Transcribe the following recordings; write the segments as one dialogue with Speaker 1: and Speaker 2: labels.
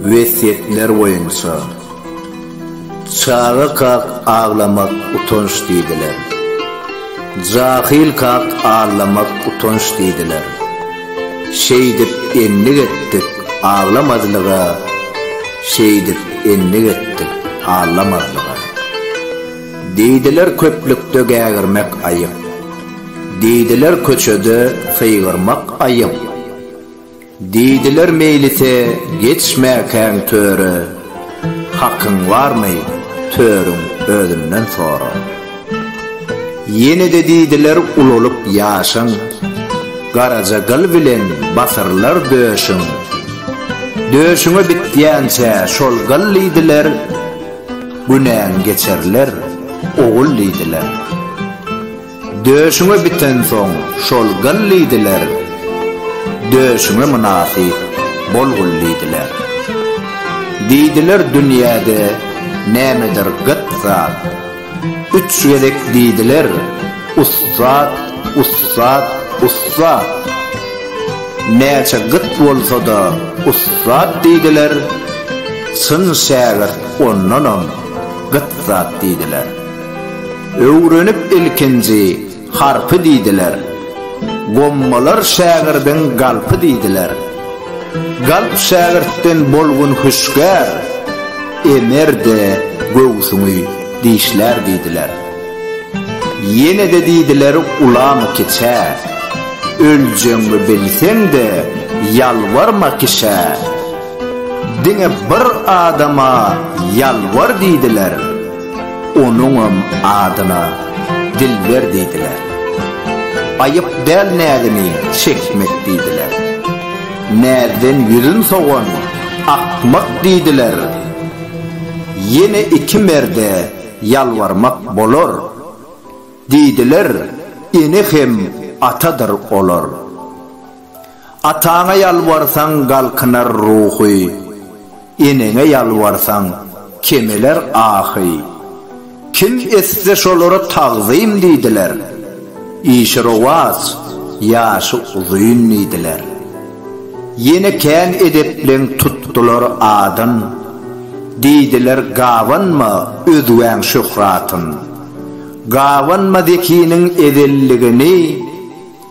Speaker 1: Wesýetler boýunça, Çaga kak aglamak utanç diýdiler. Jahyl kak aglamak utanç diýdiler. Şeýdip endik etdik aglamazlyga, Şeýdip endik etdik aglamazlyga. Diýdiler köplükde gägirmek aýyp, Diýdiler köçede sygyrmak aýyp. Diýdiler meýlise geçmäkäň töre, Hakyň barmy, törüň özünden sora. Ýene-de diýdiler ulalyp ýaşyň, Garaja gyl bilen basyrylar döşüň. Döşüňe bitýänçä şol gyl diýdiler, Günäň geçerler, ogul diýdiler. Döşüňe bitensoň şol gyl diýdiler, Döşüňe mynasyp bol gul diýdiler. Diýdiler dünýäde nämedir gyt zat, Üç gezek diýdiler, ussat, ussat, ussat. Näçe gyt bolsa-da ussat diýdiler, Çyn şägirt ondanam gyt zat diýdiler. Öwrenip ilkinji harpy diýdiler. Gommalar şägirdiň galpy diýdiler. Galp şägirtden bolgun hüşgär, Emer-de göwsüňi dişlär diýdiler. Ýene-de diýdiler ulamy kiçä, Öljegiňi bilseň-de ýalbarma kişä. Diňe bir adama ýalbar diýdiler. Onuňam adyna Dilber diýdiler. Aýyp däl näzini çekmek diýdiler. Näzden ýüzün sowan akmak diýdiler. Ýene iki merde ýalbarmak bolar. Diýdiler, ene hem atadyr olar. Ataňa ýalbarsaň galkynar ruhy, Eneňe ýalbarsaň kemeler ahy. Kim etse şolara tagzym diýdiler, Işi rowaç, ýaşy uzyn diýdiler. Ýene kän edepleň tutdular adyn, Diýdiler gabanma özgäň şöhratyn. Gabanma zekiniň ezelligini.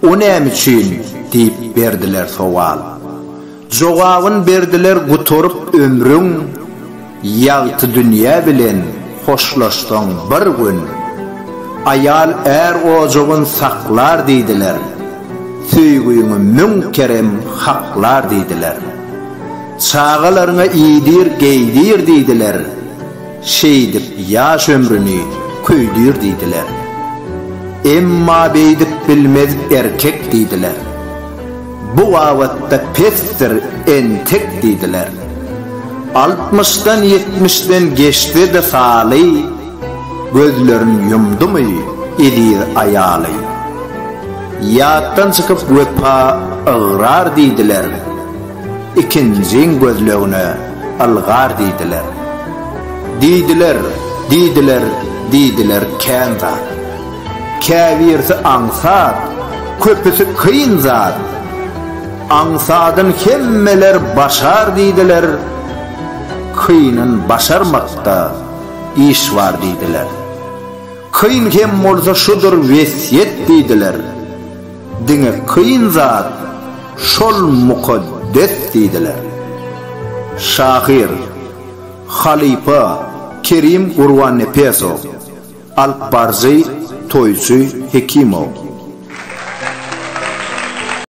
Speaker 1: O näme üçin? diýip berdiler sowal. Jogabyn berdiler gutaryp ömrüň, Ýagty dünýä bilen hoşlaşsaň bir gün. Aýal är ojagyn saklar diýdiler, Söýgiňi müň kerem haklar diýdiler. Çagalaryňa iýdir, geýdir diýdiler. Şeýdip ýaş ömrüni köýdür diýdiler. Emma beýdip bilmez erkek diýdiler. Bu babatda pesdir entek diýdiler. Altmyşdan ýetmişden geçse-de saly, gözlerin ýumdumy eziz aýaly. Ýatdan çykyp wepa ygrar diýdiler. Ikinjiň gözlegine ylgar diýdiler. Diýdiler, diýdiler, diýdiler kän zat. Käbirsi aňsat, köpüsi kyn zat. Aňsadyn hemmeler başar diýdiler, kynyn başarmakda iş bar diýdiler. Kyn hem bolsa şudur wesýet diýdiler. Diňe kyn zat şol mukaddes diýdiler. Şahyr, halypa Kerim Gurbannepesow, alypbaryjy Toýçy Hekimow.